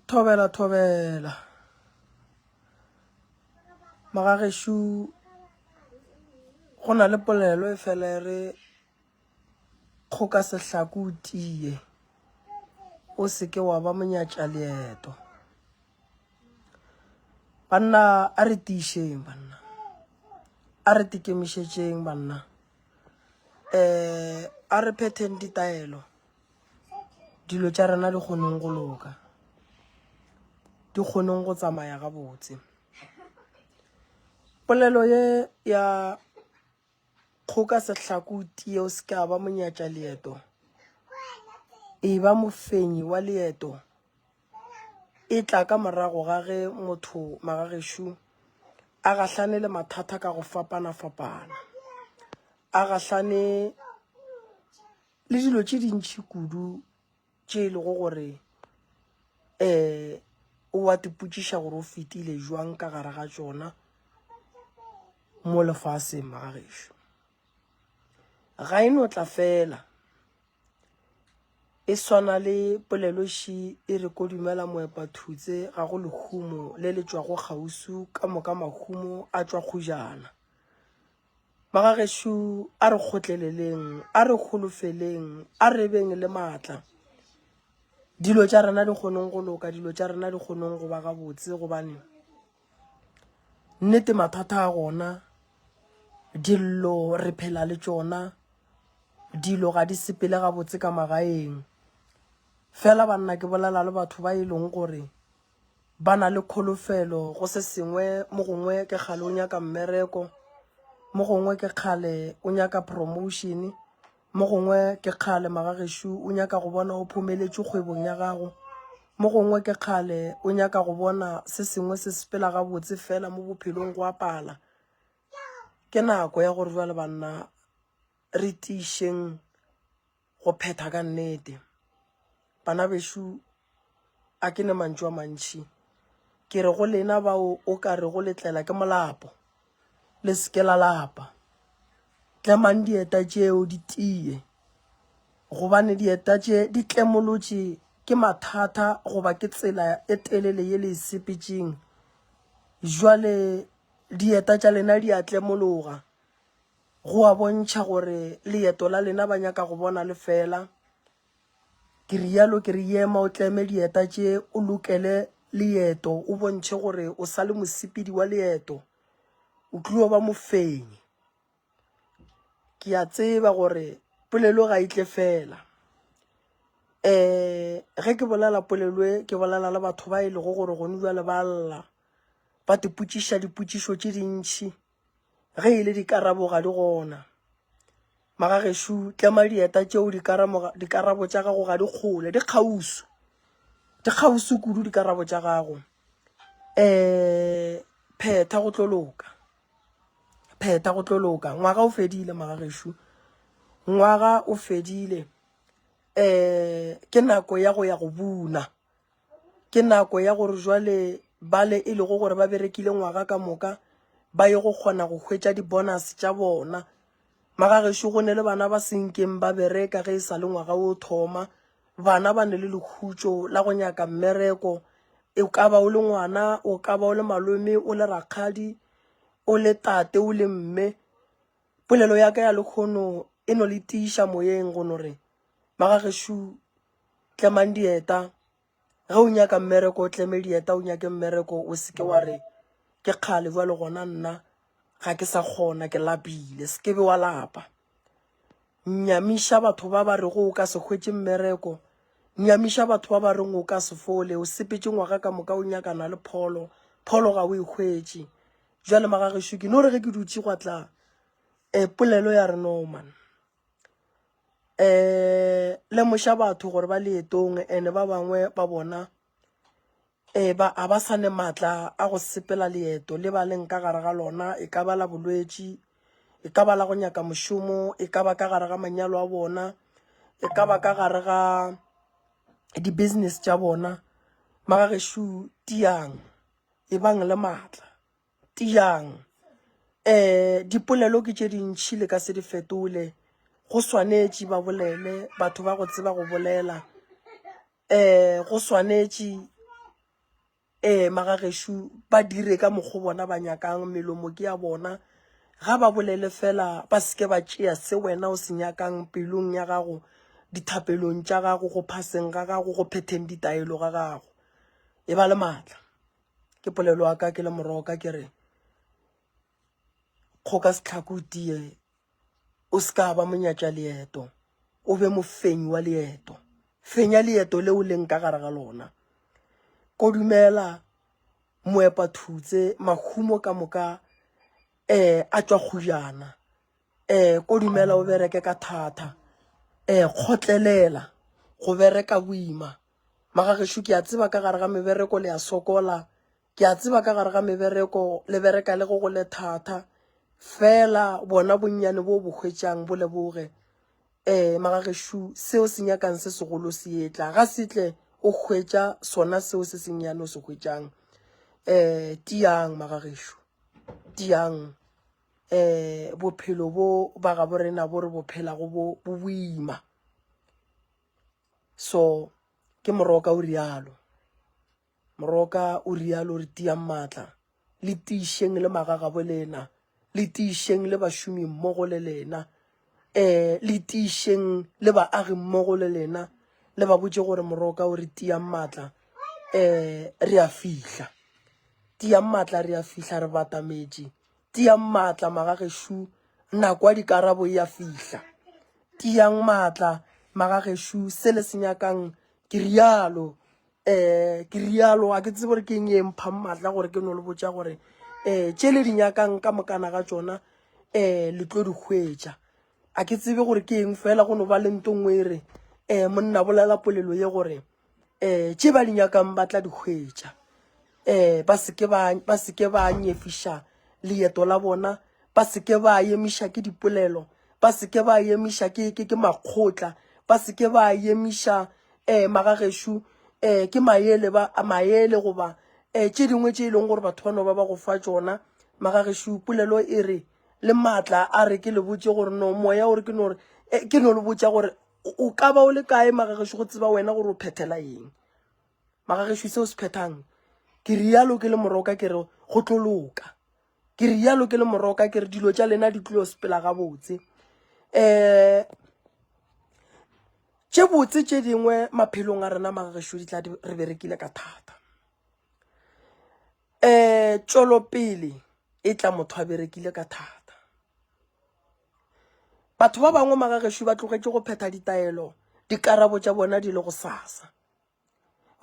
thobela thobela magagešu go na le polelo e fela e re kgoka sehlaku o tie o seke wa ba monyatša leeto banna a re tiišeng banna a re tikemišetšeng banna um a re phetheng ditaelo dilo tša rena di kgoneng go loka di kgoneng go tsamaya gabotse polelo ye ya kgoka sehlako tieo se ka ba monyatša leeto e ba mofenyi wa leeto e tla ka morago ga ge motho magagešo a gahlane le mathata ka go fapana-fapana a gahlane le dilo tše dintšhi kudu tše e lego gore um o wa tipotšiša gore o fetile jwang ka gare ga tšona mo lefaseng magagešo ga e no tla fela e swana le poleloši e re ko dumela moepa thutse ga go lehumo le le tšwago kgausu ka moka mahumo a tšwa kgojana magagešo a re kgotleleleng a re golofeleng a re beng le maatla dilo tša rena di kgoneng go loka dilo tša rena di kgoneng go ba gabotse gobaneng Nnete mathata a gona, dillo re phela le tšona, dilo ga di sepele gabotse ka magaeng. Fela banna ke bolela le batho ba e leng gore ba na le kholofelo go se sengwe, mo gongwe ke kgale o nyaka mmereko, mo gongwe ke kgale o nyaka promotion-e. Mo gongwe ke kgale magagešu o nyaka go bona o phomeletšwe kgwebong ya gago. Mo gongwe ke kgale o nyaka go bona se sengwe se sepela gabotse fela mo bophelong go a pala. Ke nako ya gore jwale banna re tiišeng go phetha ka nnete. Bana bešo A ke ne mantšu a mantši. Ke re go lena bao o ka rego le tlela ke molapo, le se ke la lapa. Tlemang dieta tšeo di tiye, gobane dieta tše di tlemolotše ke mathata goba ke tsela e telele ye le e sepetšeng. Bjale dieta tša lena di a tlemologa, go a bontšha gore leeto la lena ba nyaka go bona le fela. Ke rialo ke re yema o tleme dieta tše o lokele leeto o bontšhe gore o sa le mosepedi wa leeto, o tlio ba mofenyi. Ke a tseba gore polelo ga e tle fela. Um ge ke bolela polelo e ke bolela le batho ba e lego gore gone bjale ba lla ba tipotšiša dipotšišo tše dintšhi. Ge e le dikarabo ga di gona. Magagešo, tlema dieta tšeo dikarabo tša gago ga di kgole, di kgauswi. Di kgauswi kudu dikarabo tša gago. Um Phetha go tlo loka. Phetha go tlo loka. Ngwaga o fedile, magagešo. Ngwaga o fedile. Um Ke nako ya go ya go buna. Ke nako ya gore jwale bale e lego gore ba berekile ngwaga ka moka ba ye go kgona go hwetša di-bonus tša bona. Magagešo go ne le bana ba senkeng ba bereka ge e sa le ngwaga o thoma. Bana ba ne le lekhutšo la go nyaka mmereko. E ka ba o le ngwana, o ka ba o le malome, o le rakgadi, o le tate, o le mme. Polelo ya ka ya lekgono e no le tiiša moyeng go no re, Magagešo tlemang dieta ge o nyaka mmereko o tleme dieta o nyake mmereko o seke wa re ke kgale jwa le gona nna ga ke sa kgona ke lapile se ke be wa lapa nyamiša batho ba ba re go o ka se hwetse mmereko nyamiša batho ba ba reng o ka se fole o sepetse ngwaga ka moka o nyakana le pholo pholo ga o e hwetse jwa le magagešo ke no re ge ke dutse gwa tla um polelo ya re norman um lemoša batho gore ba leetong ene ba bangwe ba bona um ba a ba sane maatla a go sepela leeto le ba leng ka gare ga lona e ka ba la bolwetši e ka ba la go nyaka mošomo e ka ba ka gare ga manyalo a bona e ka ba ka gare ga di-business tša bona magagešo tiang e bang le maatla Tiyang. Eh, dipolelo ke tše dintši le ka se di fetole. Go swanetše ba bolele, batho ba go tseba go bolela. Eh, go swanetše eh magageshu ba dire ka mokgo bona ba nyakang melomo ke ya bona ga ba bolele fela ba seke ba tšea se wena o se nyakang pelong ya gago dithapelong tša gago go phaseng ga gago go phetheng ditaelo ga gago e ba le maatla ke polelo ya ka ke le morogo ka ke re kgoka setlhako o tie o se ka ba monyatša leeto o be mofenyi wa leeto fenya leeto le o leng ka gare ga lona kodumela moepa thutse mahumo ka moka um a tšwa kgojana um ko dumela o bereke ka thata um kgotlelela go bereka boima magagešo ke a tseba ka gare ga mebereko le ya sokola ke a tseba ka gare ga mebereko le bereka le go go le thata fela bona bonnyane bo bo hwetšang bo leboge um magagešo seo se nyakang se segolo se etla ga setle o hwetša sona seo se sennyane o se hwetšang um tiang magagešo tiang um bophelo bo ba gabo rena bo re bophelago bo boima so ke moroka o rialo moroka o rialo re tiyang maatla le tiišeng le magagabo lena le tiišeng le bašomi mmogo le lena um le tiišeng le baagi mmogo le lena le ba botse gore moroka o re tiyang maatla um re a fihla tiyang maatla re a fihla re batametše Tiyang maatla magagešo, nako ya dikarabo e a fihla. Tiyang maatla magagešo, se le se nyakang ke realo. Um ke realo, ga ke tsebe gore ke eng e mphang maatla gore ke no le botša gore um tše le di nyakang ka mokana ga tšona um le tlo di hwetša. Ga ke tsebe gore ke eng fela go no ba le nto nngwe e re um monna bolela polelo ye gore. um tše ba di nyakang ba tla di hwetša um ba seke ba seke ba nyefiša leeto la bona ba seke ba emiša ke dipolelo ba seke ba emiša ke ke ke makgotla ba seke ba emiša um magagešu um ke maele ba maele goba um tše dingwe tše e leng gore batho ba no ba ba go fa tsona magagešu polelo e re le maatla a re ke le botse gore no moya o re ke no re ke no le botsa gore o ka ba o le kae magagešu go tseba wena gore o phethela eng magagešu se o se phethang ke rialo ke le moroka ke re go tlo loka ke rialo ke le moroka ke re dilo tša lena di tlilo sepela gabotse um tše botse tše dingwe maphelong a rena magagešu di tla re berekile ka thata um tšwelopele e tla motho a berekile ka thata Batho ba bangwe magagešo ba tlogetše go phetha ditaelo, dikarabo tša bona di le go sasa.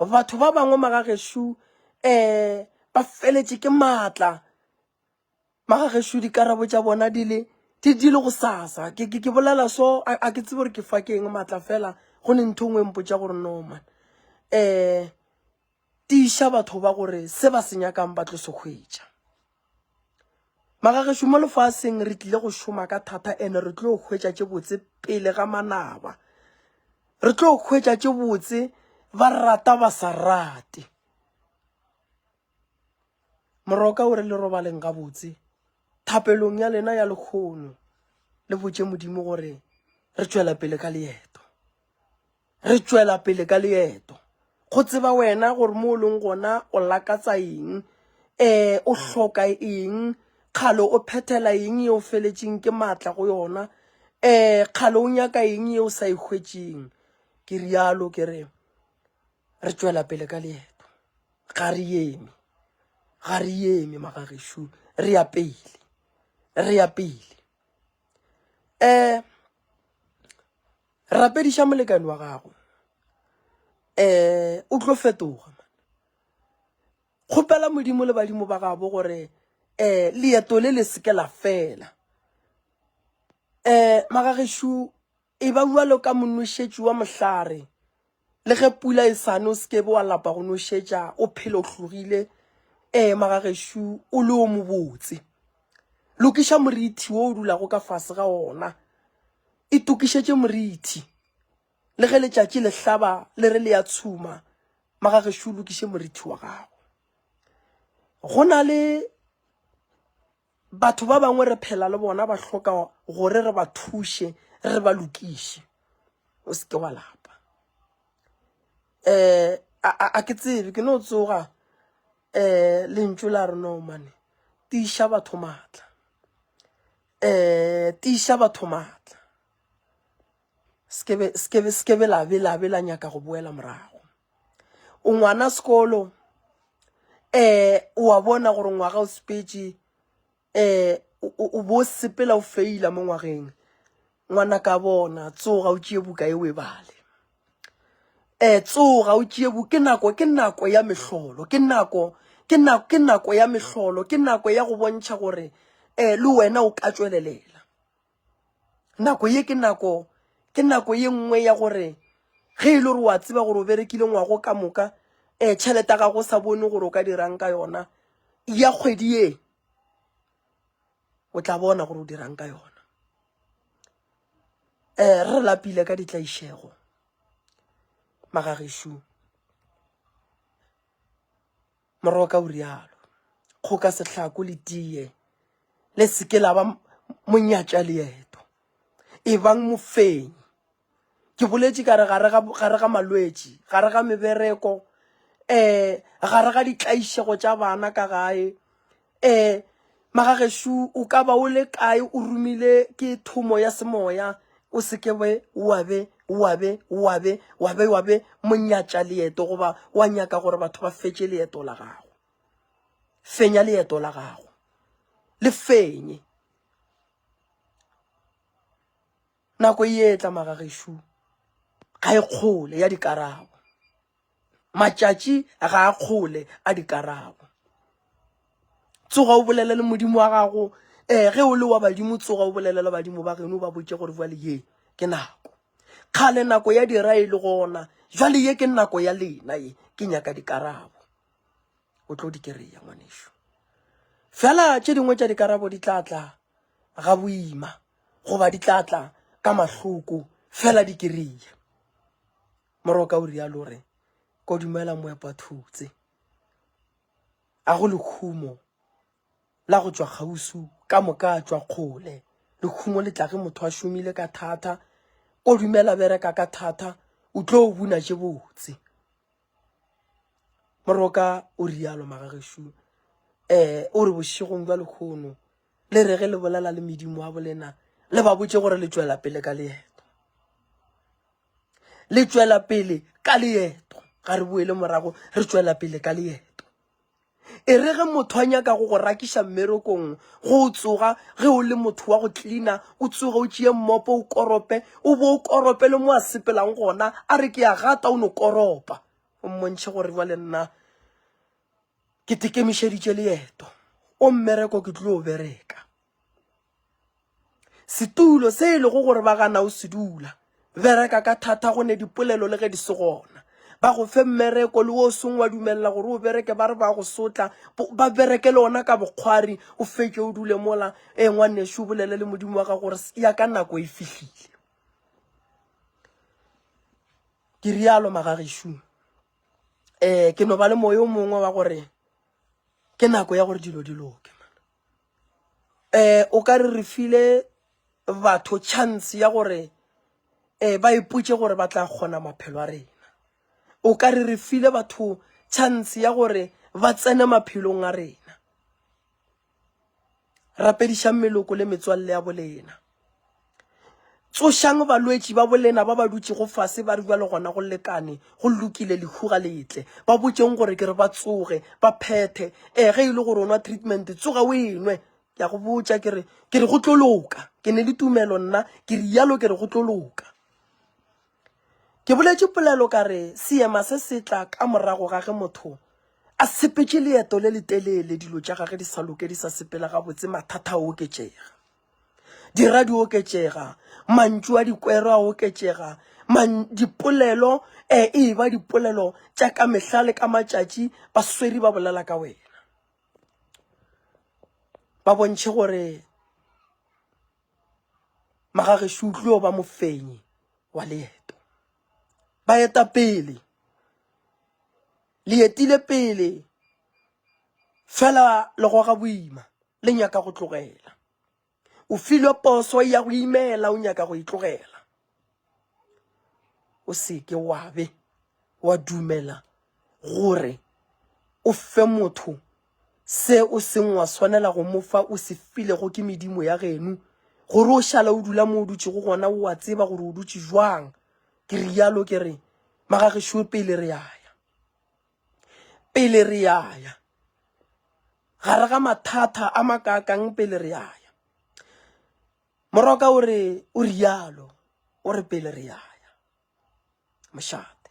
Batho ba bangwe magagešo um eh, ba feletše ke maatla, magagešo dikarabo tša bona di le di di le go sasa ke ke ke bolela so a ke tsebe gore ke fa ke eng matla fela go ne ntho e nngwe e mpotša gore no man um Tiiša batho ba gore se ba se nyakang ba tlo se hwetša. Magagešo mo lefaseng re tlile go šoma ka thata ene re tlo hwetša tše botse pele ga manaba. Re tlo hwetša tše botse ba rata ba sa rate. Moroka o re le robaleng gabotse thapelong ya lena ya lekgono le botše Modimo gore re tšwela pele ka leeto. Re tšwela pele ka leeto. Go tseba wena gore mo o leng gona o lakatsa eng, um o hloka eng, kgale o phethela eng e o feletšeng ke maatla go yona, um kgale o nyaka eng e o sa e hwetšeng. Ke rialo ke re re tšwela pele ka leeto, ga re eme, ga re eme magagešu, re ya pele, re ya pele. um Rapediša molekane wa gago. Eh, o tlo fetoga. Kgopela modimo le badimo ba gabo gore eh leeto le le seke la fela. Eh, magageshu e ba bua lo ka monnošetši wa mohlare. Le ge pula e sane o sekebe wa lapa go nošetša o phela o hlogile ee maga gešo o le o mobotse lokiša morithi wo o dulago ka fase ga ona e tokišetše morithi le ge letšatši le hlaba le re le ya tshuma maga gešo o lokiše morithi wa gago go na le Batho ba bangwe re phela le bona ba hloka gore re ba thuše, re ba lokiše. O se ke wa lapa. Eh, a ke tsebe, ke no tsoga eh lentšu la re no mane, tiša batho matla. Eh, tiša batho matla. Sekebe, sekebe, sekebe la be, la be la nyaka go boela morago. O ngwana sekolo, eh, wa bona gore ngwaga o sepetše, eh, o bo sepela o feila mo ngwageng. Ngwana ka bona, tsoga o tšie buka e o e bale. Eh, tsoga o tšie buka, ke nako, ke nako ya mehlolo, ke nako, ke nako, ke nako ya mehlolo, ke nako ya go bontšha gore, eh, le wena o ka tšwelelela. nako ye ke nako ke nako ye nngwe ya gore ge e le gore wa tseba gore o berekile ngwago ka moka um tšhelete ya gago o sa bone gore o ka dirang ka yona ya kgwedi ye o tla bona gore o dirang ka yona um re lapile ka ditlaišego magagešu Moroka o rialo. Kgoka sehlako le tiye le seke la ba monyatša leeto. Ebang mofenyi. Ke boletše ka re gare ga gare ga malwetši, gare ga mebereko, eh gare ga ditlaišego tša bana ka gae, um magagešu o ka ba o le kae o romile ke thomo ya semoya o seke be wabe wabe wabe wabe wabe monyatša leeto goba wa nyaka gore batho ba fetše leeto la gago fenya leeto la gago le fenye nako e etla magagešu ga e kgole ya dikarabo Matšatši ga a kgole a dikarabo. Tsoga o bolele le modimo wa gago um ge o le wa badimo tsoga o bolele le badimo ba geno ba botse gore jale ye ke nako kgale nako ya dira e le gona jale ye ke nako ya lena ye ke nyaka dikarabo o tlo di kereya ngwaneso fela tše dingwe tša dikarabo di tla tla ga boima goba di tla tla ka mahloko fela di kereya Moroka o rialo o re, Ko dumela moepathutse. A go lekhumo la go tšwa kgausu ka moka a tšwa kgole. Lekhumo le tla ge motho a šomile ka thata. Ko dumela bereka ka thata, o tlo o buna tše botse. Moroka o rialo magagešo. Um eh, o re bošegong jwa lekhono le re ge le bolela le medimo wa bolena le ba botse gore le tšwela pele ka leeto. le tšwela pele ka leeto ga re boele morago re tšwela pele ka leeto e re ge motho a nyaka go go rakiša mmerekong go o tsoga ge o le motho wa go tlina o tsoge o tšee mmopo o korope o bo o korope le mo a sepelang gona a re ke ya gata o no koropa o mmontšhe gore jwa le nna ke tekemišeditše leeto o mmereko ke tlo o bereka Setulo se e lego gore ba gana o se dula. Bereka ka thata go ne dipolelo le ge di se gona. Ba go fe mmereko le o song wa dumelela gore o bereke ba re ba go sotla. Ba bereke le ona ka bokgwari o fetše o dule mola. E ngwanešu bolele le modimo wa gago gore ya ka nako e fihlile. Ke rialo magagešu. Eh ke no ba le moyo mongwe wa gore ke nako ya gore dilo di loke. Eh o ka re re file batho chance ya gore eh ba ipotše gore ba tla kgona maphelo a rena. O ka re re file batho chance ya gore ba tsene maphelong a rena. Rapedišang meloko le metswalle ya bolena. Tsošang balwetši ba bolena ba ba dutšego fase ba re bjale gona go lekane, go lokile, lehu ga le tle. Ba botšeng gore ke re ba tsoge, ba phethe. Ee, ge e le gore o nwa treatment, tsoga o e nwe. Ke a go botša ke re, ke re go tlo loka. Ke ne le tumelo nna, ke re yalo ke re go tlo loka. Ke boletše polelo ka re seema se se tla ka morago ga ge motho a sepetše leeto le letelele, dilo tša gage di sa loke, di sa sepela gabotse, mathata a oketšega. dira di oketšega mantšu a dikwero a oketšega dipolelo um e ba dipolelo tša ka mehla le ka matšatši ba sweri ba bolela ka wena ba bontšhe gore magagešo utlweo ba mofenyi wa leeto ba eta pele le etile pele fela le goga boima le nyaka go tlogela o filwe poso ya go imela o nyaka go e tlogela o seke wa be wa dumela gore o fe motho se o seng wa swanela go mo fa o se filego ke medimo ya genu gore o šala o dula mo o dutšego gona o a tseba gore o dutše jwang Ke rialo ke re, Magagešo pele re ya ya. Pele re ya ya. Gare ga mathata a makakang pele re ya ya. Moroka o re, o rialo, o re pele re ya ya. Mošate.